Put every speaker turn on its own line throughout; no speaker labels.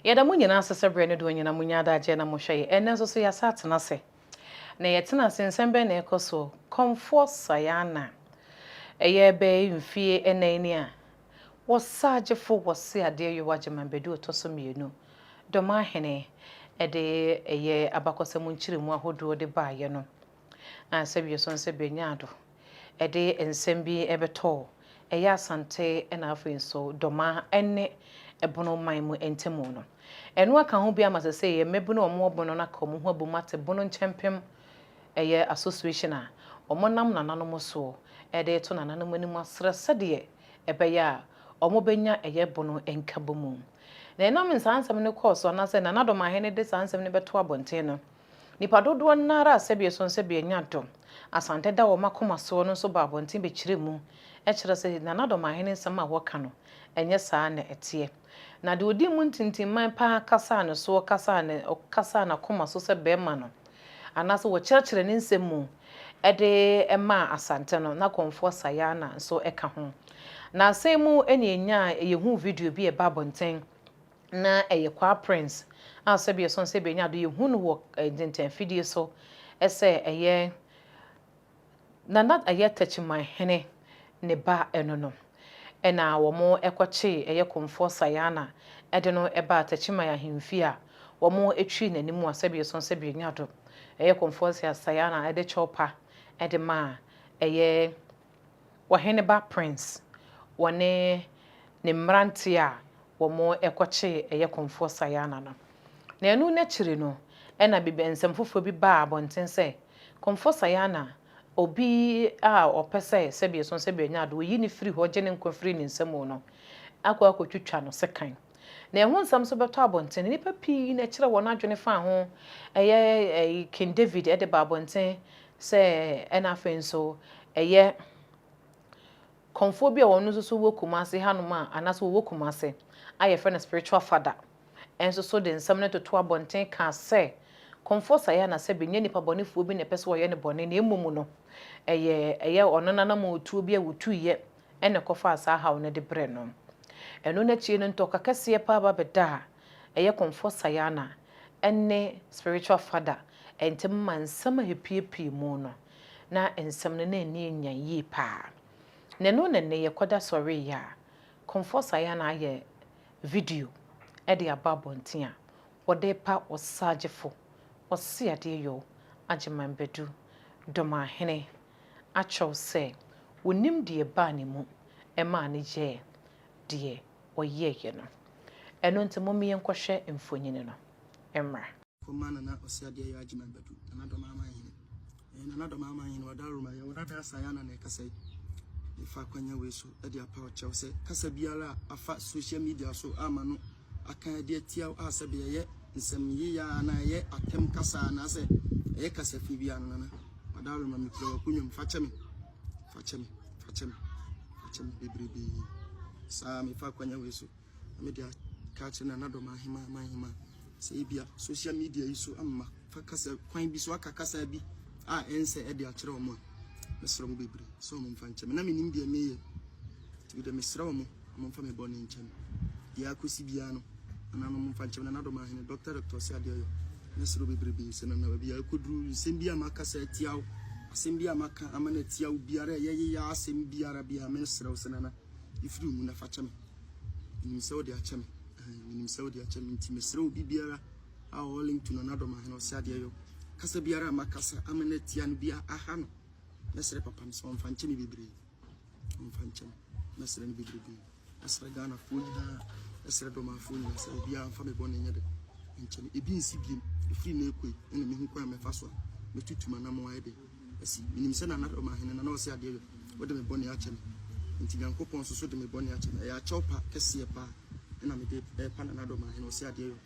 Yɛda mo nyinaa ase sɛ berɛ no doɔ nyinaa monya adagyeɛ na mohwɛ yɛn. Ɛnnɛ nso so yɛasan atena ase. Na yɛtena ase, nsɛm bɛn na ɛrekɔ so? Kɔmfoɔ Sayana, ɛyɛ bɛyɛ mfeɛ nnan ni a Ɔsagyefo Wɔse Adeɛyowa Gyimah bɛdu ɔtɔ so mmienu. Dɔmahene de ɛyɛ abakɔsɛm nkyerɛmu ahodoɔ de baeɛ no, sɛ wie so nso bɛnyaa do. Ɛde nsɛm bi bɛtɔ ɛyɛ Asante na afei nso Doma ne Bono man mu ntamu no. Ɛno aka ho bi ama sɛsei yɛ mmabunu a wɔwɔ Bono no aka wɔn ho abom ate Bono Nkyɛmpem ɛyɛ Association a wɔnam nananom soɔ de reto nananom anim asrɛ sɛdeɛ ɛbɛyɛ a wɔbɛnya ɛyɛ Bono nkabomu. Na ɛnam saa nsɛm no kɔɔ so anaasɛ Nana Domahene de saa nsɛm no bɛtoo abɔnten no, Nnipa dodoɔ no ara a sɛdeɛ ɛsono sɛ bɛanya dɔm, Asante da wɔn akoma soɔ no nso bɔ abɔnten bɛkyerɛ mu kyerɛ sɛ Nana Dɔmahene nsɛm a wɔka no, ɛnyɛ saa na ɛteɛ. Na deɛ ɔdii mu ntintimman pa ara kasaa ne soɔ kasaa ne, ɔkasaa n'akoma so sɛ barima no, anaasɛ wɔkyerɛkyerɛɛ ne nsɛm mu de maa Asante no, na Komfoɔ Sayana nso ka ho. Nansa yi mu na yɛnyaa, yɛhuu video bi a ɛbaa abɔnten, na ɛyɛ Kwaa Prince a sɛbi ɛsɔn sɛ bɛnya ado yɛhu no wɔ dwentɛnfidie so sɛ ɛyɛ Nana ɛyɛ Takyimanhene ne ba ɛno no ɛna wɔn ɛkɔkyee ɛyɛ Komfoɔ Sayana ɛde no ɛbaa Takyiman ahemfie a wɔn ɛtwii n'anim a sɛbi ɛsɔn sɛ bɛnya ado ɛyɛ Komfoɔ Sayana ɛde kyɛw pa ɛde maa ɛyɛ Ɔheneba Prince wɔ ne ne mmeranteɛ a wɔkɔkyee ɛyɛ Komfoɔ Sayana no. Na ɛno no akyiri no ɛna biribi nsɛm foforɔ bi baa abɔnten sɛ Komfoɔ Sayana obi a ɔpɛ sɛ sɛbi ɛsono sɛbi ɔnya ade ɔyi no firi hɔ gye ne nkwa firi ne nsa mu no akɔ akɔtwitwa no sekan. Na ɛho nsɛm nso bɛtɔ abɔnten no nnipa pii na ɛkyerɛ wɔn adwene faa ho ɛyɛ King David de baa abɔnten Sɛ ɛna afei nso ɛyɛ kɔmfoɔ bi a wɔn nso so wɔ Kumasi ha nom a, anaasɛ wɔwɔ Kumasi a yɛfrɛ no Spiritual Father nso so de nsɛm no toto abɔnten kaa sɛ, Kɔmfoɔ Sayana sɛbe nyɛ nipa bɔnefoɔ bi na ɛpɛ sɛ wɔyɛ no bɔne na mmom no ɛyɛ ɛyɛ ɔno n'anamɔtuo bi a wɔtuiɛ ɛna ɛkɔfaa saa haw no de brɛɛ no. Ɛno no akyire no ntɔkwa kɛseɛ paa ba bɛdaa ɛyɛ Kɔmfoɔ Sayana ne Spiritual Father ntam ma nsɛm a ɛpuepue mu no, na nsɛm no na ani anyan yie pa ara. Na ɛno na nnɛ yɛkɔda sɔre yi a Kɔmfoɔ Sayana ayɛ video de aba abɔnten a wɔde repa Ɔsagyefo Ɔseadeɛyɔ Agyeman Badu Domahene akyerɛw sɛ wɔnim deɛ ɛbaa ne mu maa no yɛɛ deɛ ɔyɛeɛ no. Ɛno nti momme yɛnkɔhwɛ mfonini no mmra. Kɔma Nana
Ɔseadeɛ Yaa Gyimah Badu, Nana Dɔmaaman Hene. Ɛyɛ Nana Dɔmaaman Hene, ɔda Rome a, yɛwɔ dada saa, Yana na ɛkasa yi. Mefa akwanya wei so de apaw kyɛw sɛ, kasa biara a afa social media so ama no aka de atia wo a, sɛbe ɛyɛ nsɛmyeyɛ anaa ɛyɛ atɛm kasa anaasɛ ɛyɛ kasafi biara no, Nana, ɔda Rome, mekura w'akonnwa mu, fa kyɛ me. Fa kyɛ me, fa kyɛ me, fa kyɛ me bebrebe. Saa mefa akwanya wei so na mede aka akyerɛ na anadɔm ahema ma ahema sɛ ebia social media yi so ama fa kasa kwan bi so aka kasa bi a ɛnsɛ ɛde akyerɛ wɔn a mesrɛ mo bebree sɛ wɔn mfa nkyɛ me na menim deɛ meyɛ nti mede mesrɛ wɔn Momfa me bɔne nkyɛ me. Deɛ akosi biara no, Nana no momfa nkyɛ me, Nana Dɔmaa Hene, Doctor Doctor Ɔse Adeɛ Ɔyɔ, Mɛsrɛ wo bebrebe sɛ Nana baabi a ɛkɔduru, nsɛm bi a makasa atia wo, asɛm bi a maka ama no atia wo biara, ɛyɛ yeyaa asɛm biara biara, mɛsrɛ wo sɛ Nana, yi firi wo mu na fa kyɛ me. Menim sɛ wode akyɛ me, ɛhɛn, menim sɛ wode akyɛ me, nti mesrɛ wo biribiara a ɔwɔ link to Nana Dɔmaa Hene Ɔse Adeɛ Ɔyɔ, kasa biara a makasa ama no atia no biara aha no, mɛsrɛ Papa no sɛ ɔmfa nkyɛ me bebree. Ɔmfa nkyɛ me. Mɛsrɛ no bebrebe. Mɛsrɛ Ghanafoɔ nyinaa. Mɛsrɛ Dɔmanfoɔ nyinaa sɛ obiara mfa me bɔne nyɛ dɛ. Nkyɛ me ebi nsi biem. Ɛfiri nnɛ rekɔ yi, ɛna mehu kwan a mɛfa so a mɛtutu m'anammɔn ayɛ dɛ asi. Menim sɛ Nana Ɔmanhene Nana Ɔse Adeɛ Yɔ, wode me bɔne akyɛ me. Enti Nyankopɔn nso so de me bɔne akyɛ me. Ɛyɛ akyɛw pa kɛseɛ pa ara na mede repa Nana Ɔmanhene Ɔse Adeɛ Yɔ.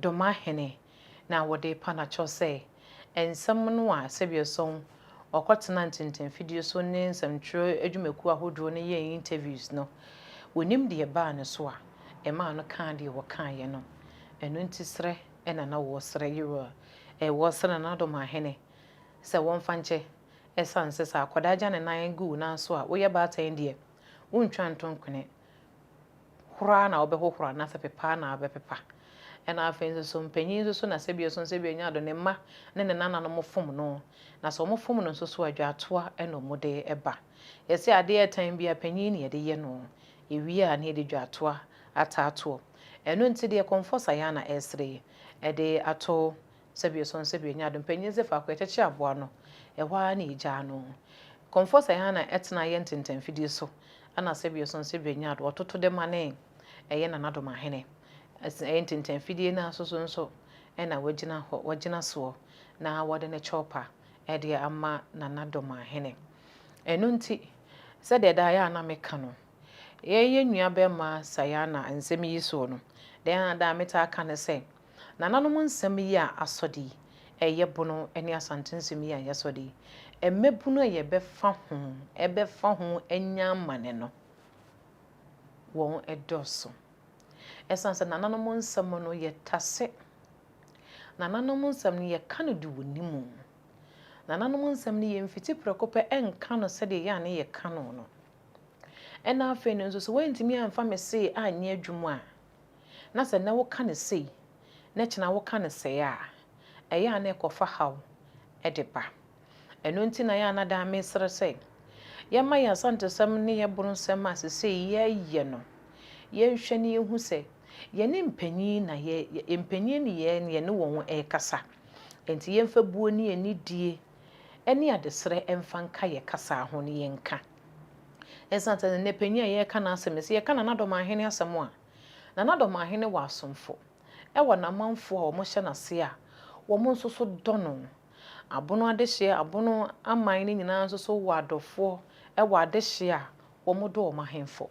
Domahene na wɔde repa no akyɛw sɛ nsɛm no a sɛdeɛ sɔn wɔkɔtena ntentanfidie so ne nsɛmtwerɛ adwumakuo ahodoɔ no yɛɛ interviews no, wɔnim deɛ ɛbaa no so a ɛmaa no kaa deɛ wɔkaeɛ no. Ɛno nti serɛ na na wɔresrɛ Yerua, ɛɛ, wɔresrɛ Nana Domahene sɛ wɔmfa nkyɛ ɛsiane sɛ sɛ akwadaa gya ne nan gu wo nan so a woyɛ baatan deɛ, wontwa nto nkwene. horo ara na wobɛhohoro anaasɛ pepa ara na wobɛpepa. Ɛna afei nso so mpanyin nso so na sɛ bio nso nso bio nya ado ne mma ne ne nananom fom no na sɛ wɔn fom no nso so a dwaatoa ɛna wɔn de ɛba. Yɛse adeɛ ɛtan biara panyin na yɛde yɛ no yɛwie a na yɛde dwaatoa ata atoɔ. Ɛno nti deɛ kɔmfɔs ayɛ a na ɛresere yi ɛde ato Sɛbio so nsɛbio nyɛ ado mpanyin dze faako yɛkyɛkyɛ aboa no ɛhɔ ara na yegyaa no. Kɔmfoɔ sɛ hɛn na ɛtena yɛn ntentɛnfidie so ɛna sɛbio so nsɛbio nyɛ ado ɔtoto de ma ne ɛyɛ nanadomahene ɛse ɛyɛ ntentɛnfidie no ara so so nso ɛna wagyina hɔ wagyina soɔ na wɔde ne kyɛwpa ɛde ama nanadomahene. Ɛno nti sɛdeɛ daa yɛ a na meka no yɛn yɛn nua bɛɛma Sayana nsɛm yi soɔ no dɛn ara daa metaa ka ne sɛ Nananom nsɛm yi a asɔ de yi, ɛyɛ bono ne Asante nsɛm yi a ɛyɛ sɔ de yi, mmabunu a yɛbɛfa ho, ɛbɛfa ho anya amane no, wɔn dɔɔso. Ɛsiane sɛ nananom nsɛm no yɛtase, nananom nsɛm no yɛka no de wɔ ne mu, nananom nsɛm no yɛmfiti prɛko pɛ nka no sɛdeɛ yɛ a ne yɛka no no, ɛna afei no nso sɛ woantumi amfa me see anyɛ adwuma a, na sɛ nnɛ woka no sei na kyena woka no sɛɛ a, ɛyɛ a na ɛkɔfa haw de ba. Ɛno nti na ɛyɛ a na daa mesrɛ sɛ yɛmma yɛn Asantesɛm ne yɛn Boronsɛm a seesei yɛreyɛ no, yɛnhwɛ na yɛnhu sɛ yɛne mpanyin na yɛ, mpanyin ne yɛn na yɛne wɔn rekasa. Enti yɛmfa buo ne anidie ne adesrɛ mfa nka yɛn kasa ho na yɛnka. Esiane sɛ nnɛ panyin a yɛreka n'asɛm yi, sɛ yɛka Nana Dɔm Ahene asɛm a, Nana Dɔm Ahene wɔ asomfo, ɛwɔ n'amanfoɔ a wɔhyɛ n'ase a wɔn nso so dɔ no. Abono adehyeɛ, Abono aman no nyinaa nso so wɔ adɔfoɔ wɔ adehyeɛ a wɔdɔ wɔn ahenfo.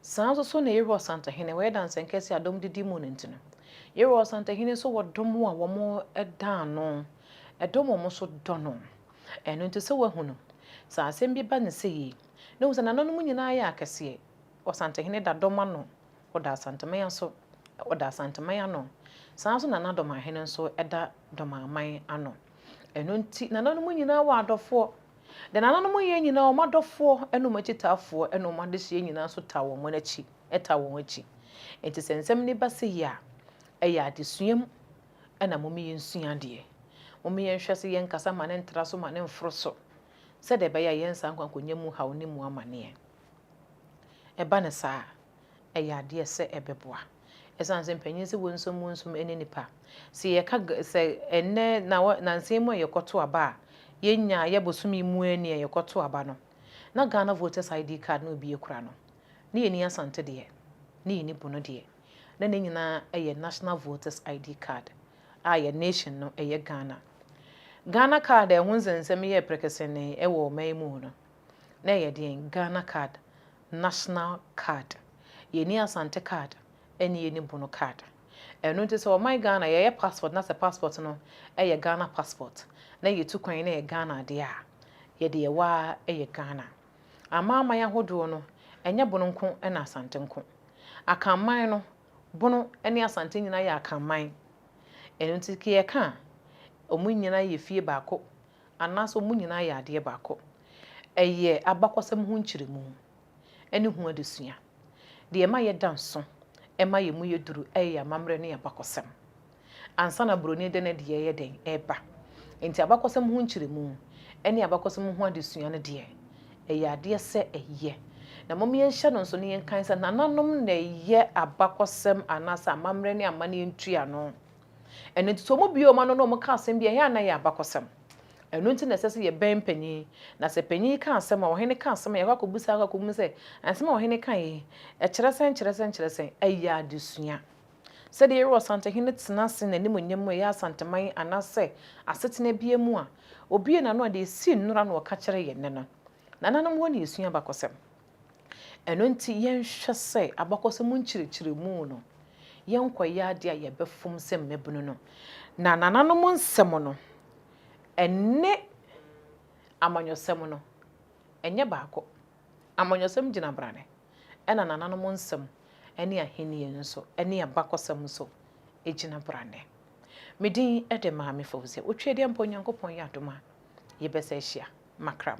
Saa nso so na Yehowa Ɔsantahene, wɔyɛ dansɛnkɛseɛ a dɔm de di mu no nti no. Yehowa Ɔsantahene nso wɔ dɔm a wɔda ano, dɔm a wɔn nso dɔ no. Ɛno nti sɛ woahu no, sɛ asɛm bi ba no sɛ yei, na hu sɛ nananom nyinaa yɛ akɛseɛ, Ɔsantehene da dɔm ano, ɔda Asanteman aso, ɔda Asanteman ano, saa ara nso na n'adɔmahene nso da dɔmaman ano. Ɛno nti nananom nyinaa wɔ adɔfoɔ. Deɛ nananom yɛ nyinaa wɔn adɔfoɔ ne wɔn akyitaafoɔ ne wɔn adehyeɛ nyinaa nso taa wɔn akyi, taa wɔn akyi. Enti sɛ nsɛm no ba sɛ yei a, ɛyɛ adesua mu Ɛna mome yɛnsua adeɛ. Mome yɛnhwɛ sɛ yɛnkasa ma no ntra so ma no mforo so, sɛdeɛ ɛbɛyɛ a yɛn saa nkwankonya mu haw ne mu amaneɛ. Ɛba no saa a, ɛyɛ adeɛ sɛ ɛbɛboa. Ɛsiane sɛ mpanin se wɔnsum wɔnsum ɛne nipa. Sɛ yɛka ga, sɛ ɛnnɛ na wɔ, nansa yi mu a yɛkɔto aba a, yɛnya, yɛ bosome yi mu a ni a yɛkɔto aba no, na Ghana Voters ID card na obi akura no, Ne yɛnni Asante deɛ, ne yɛnni Bono deɛ, na ne nyinaa yɛ National Voters ID Card a yɛn nation no yɛ Ghana. Ghana card a ɛho nsɛnsɛm yɛɛ prɛkɛsɛnee wɔ ɔman yi mu no, na ɛyɛ deɛn? Ghana card, National card. Yɛnni Asante card, ɛne yɛnni Bono card. Ɛno nti sɛ ɔman Ghana yɛyɛ passport na sɛ passport no yɛ Ghana passport, na yɛtu kwan na ɛyɛ Ghana adeɛ a, yɛde yɛwɔ ara yɛ Ghana. Amanaman ahodoɔ no, ɛnyɛ Bono nko na Asante nko. Akanman no, Bono ne Asante nyinaa yɛ Akanman. Ɛno nti ke yɛka a, wɔn nyinaa yɛ fie baako anaasɛ wɔn nyinaa yɛ adeɛ baako. Ɛyɛ abakɔsɛm ho nkyerɛmu ne ho adesua. Deɛ ɛma yɛda nso ma yɛn mu yɛ duru yɛ yɛn amammerɛ ne yɛn abakɔsɛm. ansa na buroni de ne deɛ yɛ dɛn? reba. Enti abakɔsɛm ho nkyerɛmu ne abakɔsɛm ho adesua no deɛ, ɛyɛ adeɛ sɛ ɛyɛ. Na mom yɛnhyɛ no nso na yɛnkae sɛ nananom na ɛyɛ abakɔsɛm anaasɛ amammerɛ ne amanneɛ ntuano. Ɛno nti sɛ wɔn bue wɔn ano na wɔka asɛm bi a, ɛyɛ a na ɛyɛ abakɔsɛm. Ɛno nti na ɛsɛ sɛ yɛbɛn panin, na sɛ panin yi ka asɛm a, ɔhene ka asɛm a, yɛakɔ akɔbisa, akɔ akɔbisa sɛ, Asɛm a ɔhene kaeɛ yi, ɛkyerɛ sɛn, ɛkyerɛ sɛn, ɛkyerɛ sɛn? Ɛyɛ adesua. Sɛdeɛ ɛyɛ Ɔsantehene tena ase n'animuonyam mu ɛyɛ Asanteman anaasɛ asetena biara mu a, ɔbue n'ano a deɛ ɛsii nnora na ɔka kyerɛ yɛn nnɛ no, nananom hɔ na yɛsua abakɔsɛm. Ɛno nti yɛnhwɛ sɛ abakɔsɛm nkyerɛkyerɛmu no, yɛnkɔyɛ adeɛ a yɛbɛfom sɛ mmabunu no. Na nananom nsɛm no, ɛne amanyɔsɛm no, ɛnyɛ baako. Amanyɔsɛm gyina brane, ɛna nananom nsɛm ne ahenni nso ne abakɔsɛm nso gyina brane. Me din de Maame Fawzia Otweadia mpo Nyankopɔn yɛ adom a yɛbɛsa ahyia. Makram.